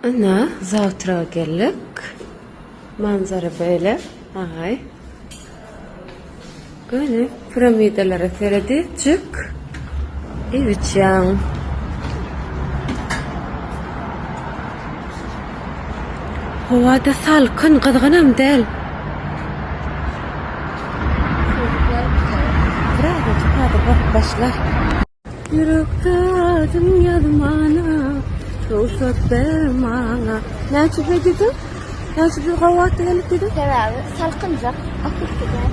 Ana, zawtraga geldik. Manzara böyle, agaý. Göni piramidalara seredijik. Ewiçýan. Howa-da salkyn, gyzgynam däl. Biraz-da başlar. Ýürekde adyň ýazmana Rugsat ber maňa Näçe hediýe? Näçe bir gowat gelip gidip? Sebäbi salkynjak, akyp gidýär.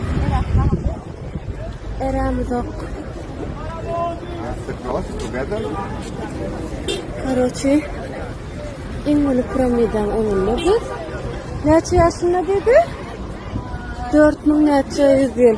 Erämi zok. Karoçi, iň uly piramidan oňunda biz. Näçe ýaşynda dedi? 4000 näçe ýüz ýyl.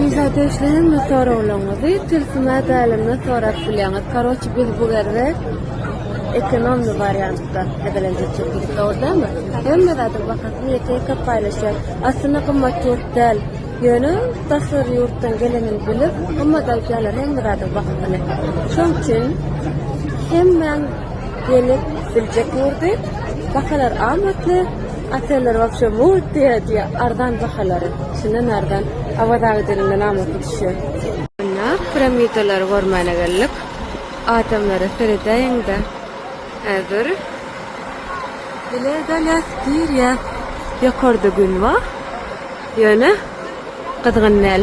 Wizada işleýäňmi soraglaryňyzy tilsime bälemde sorap bilýäňiz. Karoçi biz bu ýerde ekonomny wariantda edelenjek çekildik dogrydanmy? Hemme zadyň bahasyny ýeke-ýeke paýlaşýar. Aslynda gymmat ýurt däl. Ýöne daşary ýurtdan gelenini bilip gymmat aýdýarlar hemme zadyň bahasyny. Şoň üçin hemmäň gelip biljek ýurdy. Bahalar amatly. Oteller wapşe mugt diýýär diýe arzan bahalary içinden arzan Awaz aga dilinde namasy düşýär. Munna piramidalary görmäne geldik. Adamlara seredäýiňdä. Häzir bile galas girýär. Ýokarda gün bar. Ýöne gyzgyn däl.